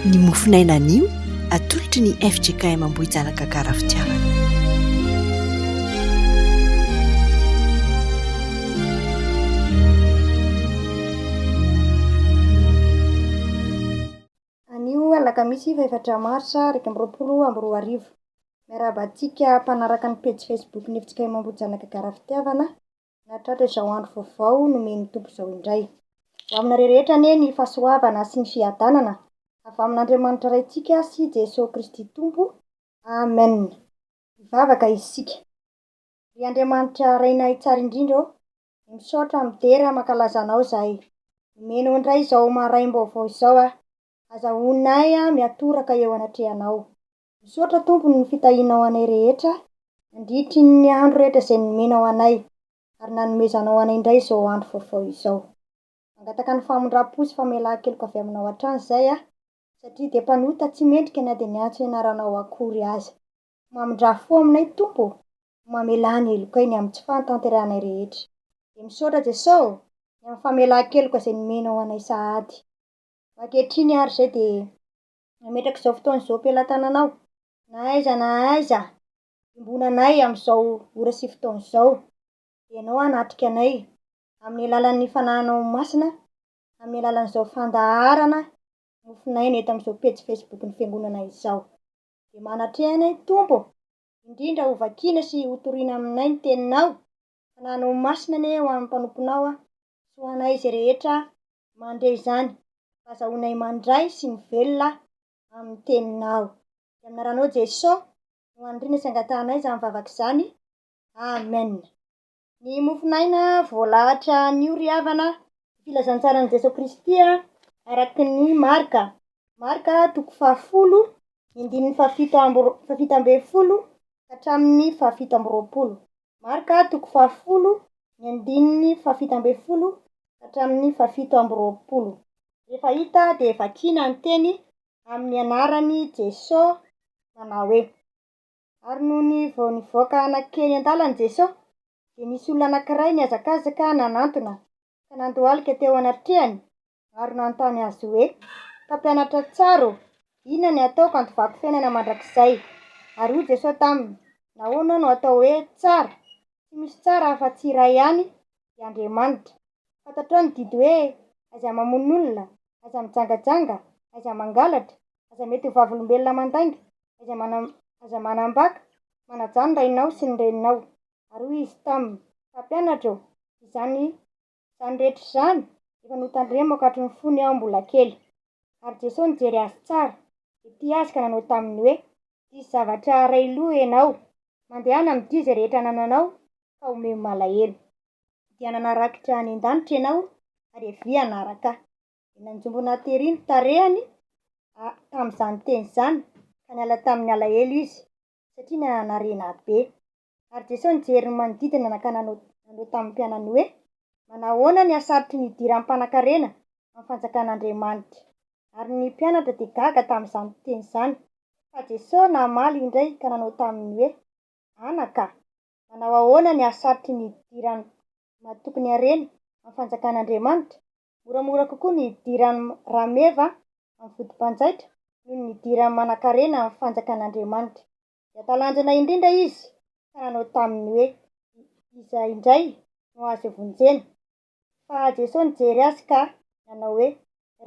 Ny mofon'aina anio atolotry ny fjkm Ambohijanaka Karafitiavana. Anio alakamisy fahefatra marsa iraika amby roapolo amby roa arivo. Miarahaba antsika mpanaraka ny pejy Facebook ny fjkm Ambohijanaka Karafitiavana nahatratra izao andro vaovao nomen'ny Tompo izao indray. Ho aminareo rehetra anie ny fahasoavana sy ny fiadanana avy amin'Andriamanitra Raintsika sy Jesoa Kristy Tompo. Amen. Hivavaka isika. Ry Andriamanitra Rainay tsara indrindra ô, misaotra midera mankalaza Anao izahay. Nomenao indray izao maraim-baovao izao aho. Aza honina ahy miatoraka eo anatrehanao. Misaotra Tompo ny fitahianao anay rehetra nandritry ny andro rehetra izay nomenao anay ary nanomezanao anay indray izao andro vaovao izao. Mangataka ny famindram-po sy famelan-keloka avy aminao hatrany izay aho satria dia mpanota tsy mendrika na dia niantso ny anaranao akory aza. Mamindrà fo aminay Tompo no mamelà ny helokay ny amin'ny tsy fahatanterahanay rehetra. Dia misaotra Jeso ô ny amin'ny famelan-keloka izay nomenao anay sahady. Ankehitriny ary izay dia nametraka izao fotoana izao am-pelatananao, na aiza na aiza iombonanay amin'izao ora sy fotoana izao, dia Ianao hanatrika anay, amin'ny alalan'ny Fanahinao Masina, amin'ny alalan'izao fandaharana nofonaina eto amin'izao pejy Facebook-n'ny Fiangonana izao. Dia manatreha anay, Tompo, indrindra hovakiana sy hotorina aminay ny Teninao, Fanahinao Masina anie ho an'ny mpanomponao sy ho anay izay rehetra mandre izany fa azahoanay mandray sy mivelona amin'ny teninao. Dia amin'ny anaranao Jeso no aniriana sy angatahanay izany vavaka izany. Amen. Ny mofon'aina voalahatra anio ry havana. Ny filazantsaran'i Jeso Kristy araka ny Marka, Marka toko fahafolo, ny andininy fahafito amby fahafito ambin'ny folo ka hatramin'ny fahafito amby roapolo. Marka toko fahafolo, ny andininy fahafito ambin'ny folo ka hatramin'ny fahafito amby roapolo. Rehefa hita dia vakiana ny teny amin'ny anaran'i Jeso manao hoe, Ary nony vao nivoaka nankeny an-dalana Jeso, dia nisy olona anankiray nihazakazaka nanantona ka nandohalika teo anatrehany Ary nanontany azy hoe, Mpampianatra tsara ô, inona ny hataoko hantovako fiainana mandrakizay? Ary hoy Jesosy taminy, Nahoana no atao hoe tsara? Tsy misy tsara afa-tsy iray ihany, dia Andriamanitra. Fantatrao ny didy hoe, Aiza mamono olona, aiza mijangajanga, aiza mangalatra, aiza mety ho vavolombelona mandainga, aiza mana, aiza manambaka, manajà ny rainao sy ny reninao. Ary hoy izy taminy, Mpampianatra ô, izany Izany rehetra izany efa notandremo ankatry ny fony aho mbola kely. Ary Jesoa nijery azy tsara, dia tia azy ka nanao taminy hoe, Diso zavatra iray loha ianao, mandehana amin'ity izay rehetra anananao ka homeo malahelo. Dia nanarakitra any an-danitra ianao ary avia hanaraka ahy. Dia nanjombona tery ny tarehiny tamin'izany teny izany ka niala tamin'ny alahelo izy, satria nanarina be. Ary Jesoa nijery ny manodidina ka nanao nanao tamin'ny mpianany hoe, Manahoana ny hasarotry ny hidiran'ny mpanankarena amin'ny fanjakan'Andriamanitra? Ary ny mpianatra dia gaga tamin'izany teny izany. Fa Jesoa namaly indray ka nanao taminy hoe, Anaka, manao ahoana ny hasarotry ny hidiran'ny mahatoky ny harena amin'ny fanjakan'Andriamanitra? Moramora kokoa ny hidiran'ny rameva amin'ny vodim-panjaitra noho ny hidiran'ny manankarena amin'ny fanjakan'Andriamanitra. dia talanjona indrindra izy ka nanao taminy hoe, Iza indray no azo ivonjena? Fa Jesoa nijery azy ka nanao hoe,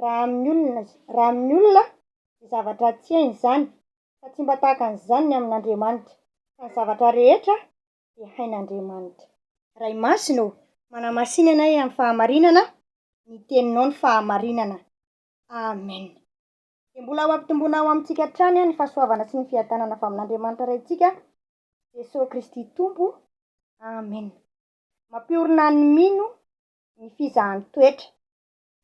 Raha amin'ny olona, raha amin'ny olona dia zavatra tsy hainy izany, fa tsy mba tahaka an'izany ny amin'Andriamanitra, fa ny zavatra rehetra dia hain'Andriamanitra. Ray Masina ô, manamasina anay amin'ny fahamarinana ny teninao ny fahamarinana. Amen. dia mbola ho ampitomboina ao amintsika hatrany ny fahasoavana sy ny fiadanana avy amin'Andriamanitra Raintsika, Jesoa Kristy Tompo. Amena. Mampiorina ny mino ny fizahan toetra.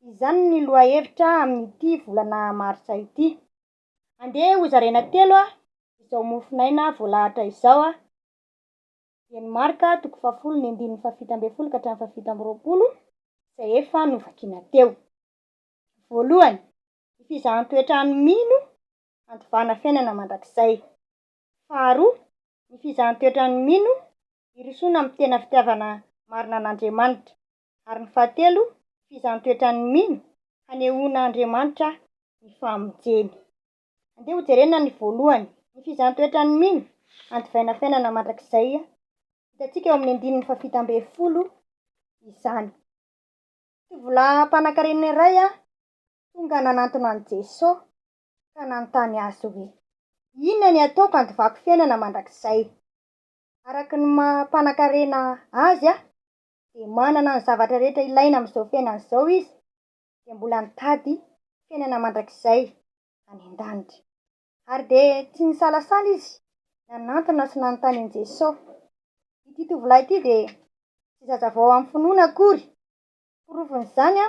Izany ny lohahevitra amin'ity volana marsa ity. Andeha ho zaraina telo izao mofonaina voalahatra izao, dieny Marka toko fahafolo ny andininy fahafito ambin'ny folo ka hatramin'ny fahafito amby roapolo, izay efa novakiana teo. Voalohany, Ny fizahan-toetrany mino handovana fiainana mandrakizay. Faharoa, ny fizahan-toetrany mino hirosoana amin'ny tena fitiavana marina an'Andriamanitra. Ary ny fahatelo, ny fizahan-toetrany mino hanehoana Andriamanitra ny famonjeny. Andeha hojerena ny voalohany, ny fizahan-toetrany mino handivaina fiainana mandrakizay. Hitantsika eo amin'ny andininy fahafito ambin'ny folo izany. Tovolahy mpanankarena iray Tonga nanantona an'i Jeso, ka nanontany Azy hoe, Inona ny ataoko handovako fiainana mandrakizay? Araka ny maha mpanankarena Azy dia manana ny zavatra rehetra ilaina amin'izao fiainana izao Izy, dia mbola nitady fiainana mandrakizay any an-danitra. Ary dia tsy nisalasala Izy nanantona sy nanontany an'i Jeso. Ity tovolahy ity dia tsy zazavao amin'ny finoana akory, Porofon'izany,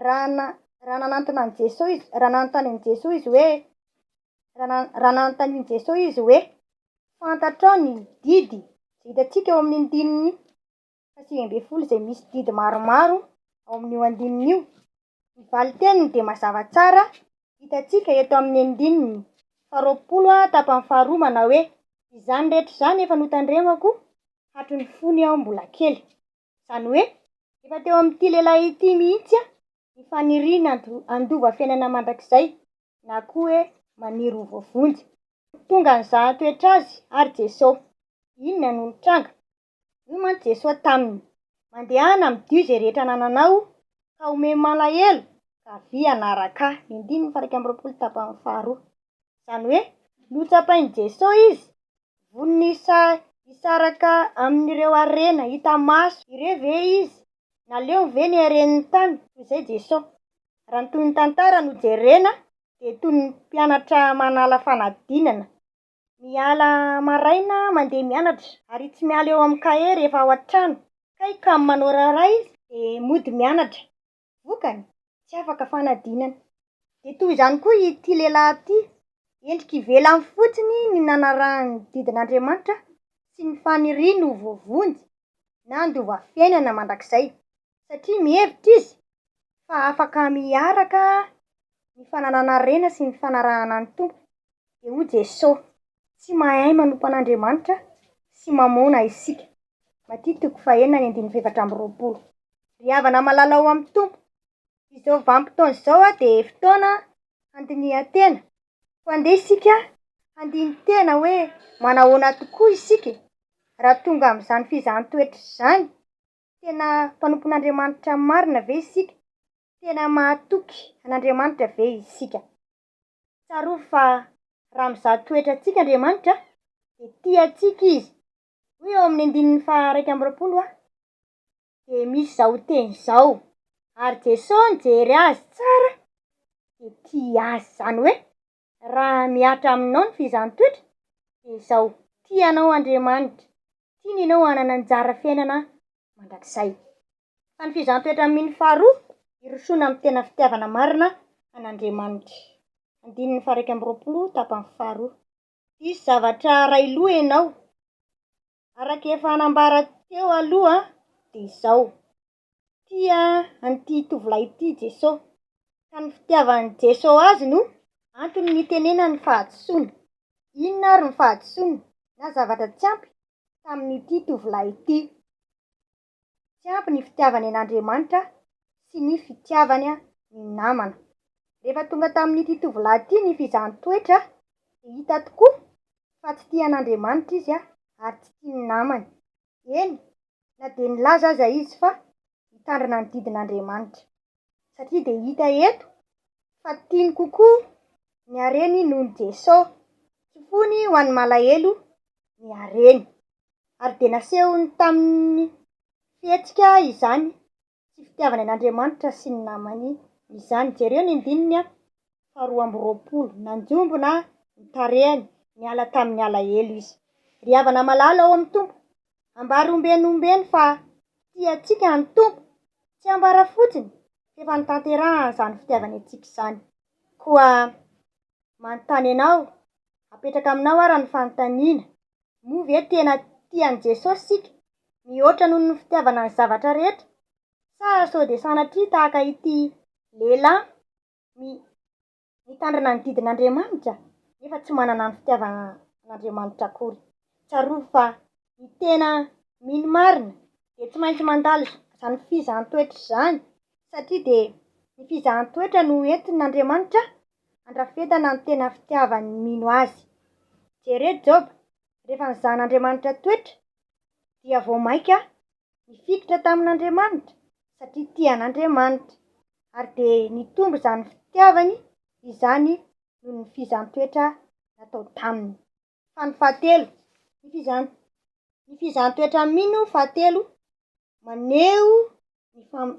raha na, raha nanantona an'i Jesoa izy, raha nanontany an'i Jesoa izy hoe, raha na, raha nanontanin'i Jesoa izy hoe, Fantatrao ny didy izay hitantsika ao amin'ny andininy fahasivy ambin'ny folo izay misy didy maromaro ao amin'io andininy io? Ny valin-teniny dia mazava tsara, hitantsika eto amin'ny andininy faharoapolo tapany faharoa manao hoe, Izany rehetra izany efa notandremako hatry ny fony aho mbola kely. Izany hoe efa teo amin'ity lehilahy ity mihitsy ny faniriana handova fiainana mandrakizay na koa hoe maniry ho voavonjy. Tonga nizaha ny toetra azy ary Jesosy. Inona no nitranga? Hoy mantsy Jesosy taminy, Mandehana midio izay rehetra anananao ka omeo malahelo ka avia hanaraka Ahy. Ny andininy faha iraika amby roapolo tapany faharoa. izany hoe notsapain'i Jesosy izy, vonona hisaraka amin'ireo harena hita maso ireo ve izy? Naleony ve ny haren'ny tany toy izay Jesosy? Raha ny toy ny tantara no jerena dia toy ny mpianatra manala fanadinana, miala maraina mandeha mianatra ary tsy miala eo amin'ny kahie rehefa ao an-trano, kay kamo manao raharaha izy dia mody mianatra. Vokany, tsy afaka fanadinana. Dia toy izany koa ity lehilahy ity, endrika ivelany fotsiny ny nanarahany ny didin'Andriamanitra sy ny faniriany ho voavonjy na handova fiainana mandrakizay, satria mihevitra izy fa afaka miaraka ny fananana harena sy ny fanarahana ny Tompo, dia hoy Jesosy. tsy mahay manompo an'Andriamanitra sy mamona isika. Maty toko fahenina ny andininy fahefatra amby roapolo. Ry havana malala ao amin'ny Tompo, izao vanim-potoana izao dia fotoana handinihan-tena. Koa andeha isika handini-tena hoe manahoana tokoa isika e? Raha tonga amin'izany fizahan-toetra izany, tena mpanompon'Andriamanitra marina ve isika? Tena mahatoky an'Andriamanitra ve isika? Tsarovy fa raha mizaha toetra antsika Andriamanitra dia tia antsika Izy. Hoy eo amin'ny andininy faha iraika amby roapolo Aho dia misy izao teny izao, ary Jeso nijery azy tsara dia tia azy, izany hoe raha mihatra aminao ny fizahn-toetra dia izao, tia anao Andriamanitra, tiany ianao hanana anjara fiainana mandrakizay. Fa ny fizaham-petra amin'ny mino faharoa, hirosoana amin'ny tena fitiavana marina an'Andriamanitra. Andininy faha-iraika amby roapolo, tapany faharoa. Hisy zavatra iray lo ianao. Araka efa nambara teo aloha dia izao, tia an'ity tovolahy ity i Jesoa, ka ny fitiavan'i Jesoa azy no antony nitenenany fahadisoana. Inona ary ny fahadisoana na zavatra tsy ampy tamin'ity tovolahy ity? Tsy ampy ny fitiavany an'Andriamanitra sy ny fitiavany ny namana. Rehefa tonga tamin'ity tovolahy ity ny fizahan-toetra, dia hita tokoa fa tsy tia an'Andriamanitra izy ary tsy tia ny namany. Eny, na dia nilaza aza izy fa hitandrina ny didin'Andriamanitra. Satria dia hita eto fa tiany kokoa ny hareny noho ny Jesosy. Tsy fony ho an'ny malahelo ny hareny. ary dia nasehony tamin'ny fihetsika izany tsy fitiavany an'Andriamanitra sy ny namany izany. Jereo ny andininy faharoa amby roapolo, Nanjombona ny tarehiny niala tamin'ny alahelo izy. Ry havana malala ao amin'ny Tompo, ambara ombieny ombieny fa tia antsika ny Tompo. Tsy ambara fotsiny f'efa notanterahany izany fitiavany antsika izany. Koa Manontany anao, apetraka aminao àry ny fanontaniana, Moa ve tena tia an'i Jesosy isika, mihoatra noho ny fitiavana ny zavatra rehetra? Sa sao dia sanatria tahaka ity lehilahy mi mitandrina ny didin'Andriamanitra, nefa tsy manana ny fitiavana an'Andriamanitra akory? Tsarovy fa Ny tena mino marina dia tsy maintsy mandalo izany fizahan-toetra izany satria dia ny fizahan-toetra no entin'Andriamanitra handrafetana ny tena fitiavan'ny mino Azy. Jereo Joba, rehefa nizahan'Andriamanitra toetra dia vao mainka nifikitra tamin'Andriamanitra satria tia an'Andriamanitra ary dia nitombo izany fitiavany izany noho ny fizahan-toetra natao taminy. fa ny fahatelo, ny fizan ny fizan-toetra Mino fahatelo maneho ny fam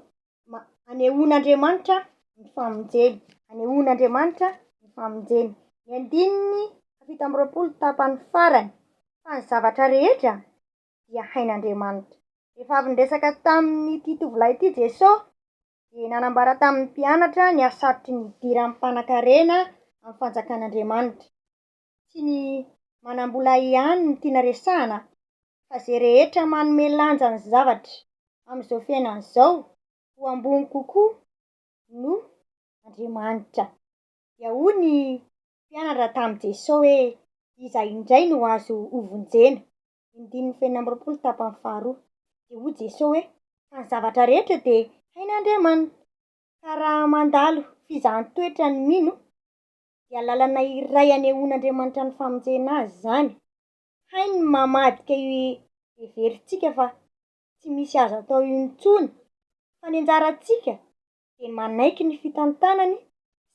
ma anehoan'Andriamanitra ny famonjeny, anehoan'Andriamanitra ny famonjeny. Ny andininy fahafito amby roapolo tapany farany, Fa ny zavatra rehetra dia hain'Andriamanitra. Rehefa avy niresaka tamin'ity tovolahy ity Jesosy, dia nanambara tamin'ny mpianatra ny hasarotry ny idiran'ny mpanankarena amin'ny fanjakan'Andriamanitra. tsy ny manambola ihany no tiana resahana fa ze rehetra manome lanja ny zavatra amin'izao fiainana izao ho ambony kokoa noho Andriamanitra. Dia hoy ny mpianatra tamin'i Jeso hoe iza indray no azo hovonjena? Indimy fenina amby roapolo tapany faharoa. Dia hoy Jeso hoe fa ny zavatra rehetra dia hain'Andriamanitra ka raha mandalo fizahan-toetra ny mino dia lalana iray anehoan'Andriamanitra ny famonjena azy izany. Hainy ny mamadika io heverintsika fa tsy misy azo atao io intsony, fa ny anjarantsika dia manaiky ny fitantanany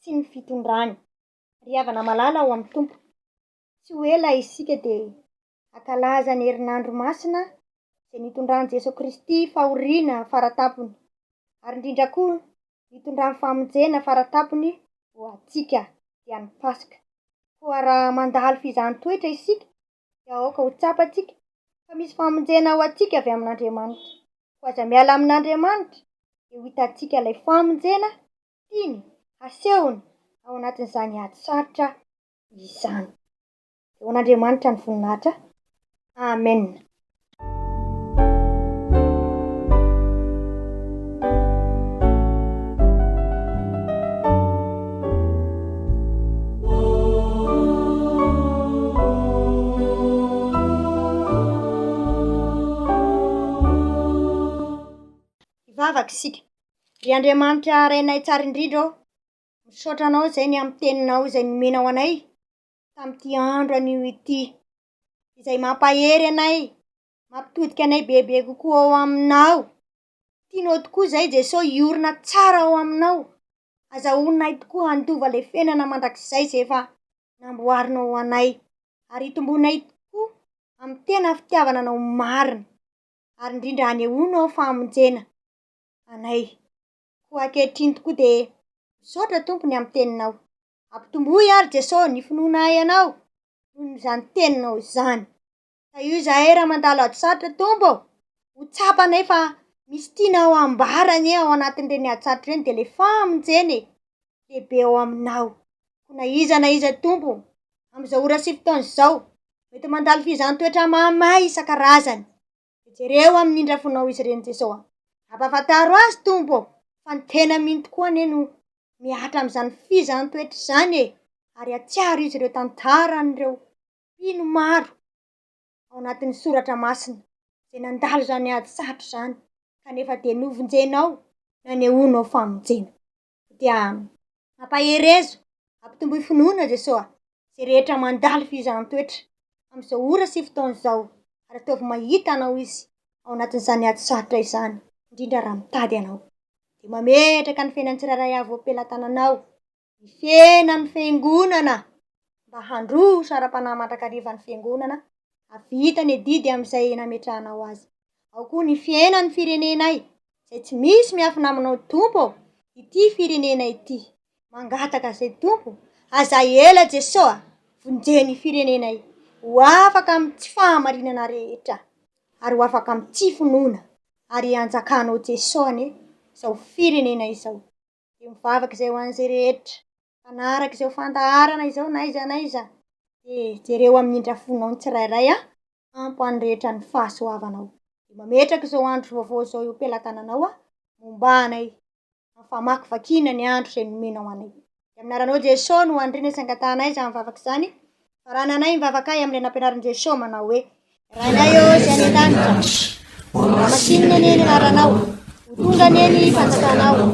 sy ny fitondrany. Ry havana malala ao amin'ny Tompo, tsy ho ela isika dia hankalaza ny herinandro masina izay nitondran'i Jesoa Kristy fahoriana faratampony, ary indrindra koa nitondrany famonjena faratampony ho antsika, dia ny Paska. Koa raha mandalo f'izany toetra isika dia aoka ho tsapantsika fa misy famonjena ho antsika avy amin'Andriamanitra. Koa aza miala amin'Andriamanitra dia ho hitantsika ilay famonjena tiany hasehony ao anatin'izany ady sarotra izany. Ho an'Andriamanitra ny voninahitra. Amen. Hivavaka isika. Ry Andriamanitra Rainay tsara indrindra ô, misaotra Anao izay ny amin'ny Teninao izay nomenao anay, tamin'ity andro anio ity, izay mampahery anay, mampitodika anay bebe kokoa ao Aminao. Tianao tokoa izahay Jesoa hiorina tsara ao Aminao. Azahoanay tokoa handova ilay fiainana mandrakizay izay efa namboarinao ho anay, ary itomboanay tokoa amin'ny tena fitiavana Anao marina, ary indrindra hanehoanao famonjena anay. Koa ankehitriny tokoa dia misaotra Tompo ny amin'ny Teninao. Ampitomboy ary Jeso ny finoanay anao noho izany teninao izany. Tahio izahay raha mandalo hajosartra Tompo ô! Ho tsapanay fa misy tianao hambara anie ao anatin'ireny hajosartra ireny dia le famonjena e! Lehibe ao aminao. Koa na iza na iza Tompo ô! Amin'izao ora sy fotoana izao mety mandalo fizaham-toetra mahamay isan-karazany. Jereo amin'ny indra fonao izy ireny Jesosy a! Ampahafantaro azy Tompo ô! fa ny tena mino tokoa anie no mihatra amin'izany fizaham-toetra izany e! ary hatsiaro izy ireo tantaran'ireo mpino maro ao anatin'ny soratra masina izay nandalo izany ady sarotra izany kanefa dia novonjenao nanehoanao famonjena. dia ampaherezo, ampitomboy finoana Jesosy a! izay rehetra mandalo fihizantoetra amin'izao ora sy fotoana izao ary ataovy mahita Anao izy ao anatin'izany ady sarotra izany, indrindra raha mitady Anao. Dia mametraka ny fiainan'ny tsirairay avy eo am-pelatananao, ny fiainan'ny Fiangonana, mba handroso ara-panahy mandrakariva ny Fiangonana, hahavita ny adidy amin'izay nametrahanao azy. Ao koa ny fiainan'ny firenenay, Izay tsy misy miafina aminao Tompo ô Ity firenena ity mangataka zay Tompo Aza ela Jeso a Vonjeo ny firenenay Ho afaka amin'ny tsy fahamarinana rehetra Ary ho afaka amin'ny tsy finoana Ary hanjakanao Jeso anie Izao firenena izao Dia mivavaka izay ho an'izay rehetra. Mpanaraka izao fandaharana izao n'aiza n'aiza, dia jereo amin'ny indra fonao ny tsirairay an! Tampo ho an'ny rehetra ny fahasoavanao. Dia mametraka izao andro vaovao izao eo am-pelatananao aho, mombà anay, amin'ny famakivakiana ny andro izay nomenao anay. Dia amin'ny anaranao Jesosy no andriana sy angatahanay izany vavaka izany, Raha nanahy ny vavakay amin'ilay nampianarin'i Jesoa manao hoe, Rainay ô Izay any an-danitra, ho masinina anie ny anaranao, ho tonga anie ny fanjakanao,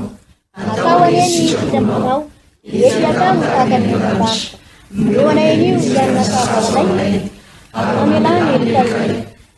atao anie ny fidambanao, dia eto atao ny tahaka ny an-danitra. Eo anay anio hianina fahavalonay, amelany ny fitahianay.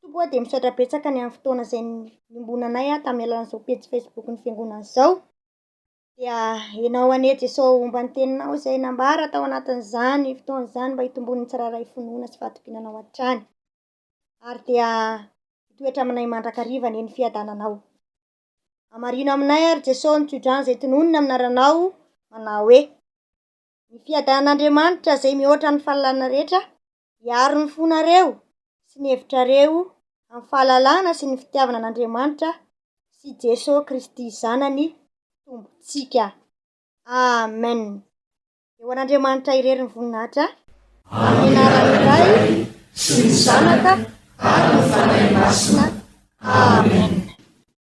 Tompo ô dia misaotra betsaka ny amin'ny fotoana izay niombonanay aho tamin'ny alalan'izao pejy facebook ny fiangonana izao dia enao anie Jeso homba ny teninao izay nambara tao anatin'izany fotoana izany mba hitomboan'ny tsirairay finoana sy fahatokinanao hatrany ary dia hitoetra aminay mandrakariva anie ny fiadananao amarino aminay ary Jeso ny tsodrano izay tononina aminaranao manao hoe ny fiadanan'Andriamanitra izay mihoatra ny fahalalana rehetra Hiaro ny fonareo sy ny hevitrareo amin'ny fahalalana sy ny fitiavana an'Andriamanitra sy i Jesoa Kristy Zanany Tompontsika. Amen. Dia ho an'Andriamanitra irery ny voninahitra, amin'ny anaran'ny Ray sy ny Zanaka ary ny Fanahy Masina. Amen.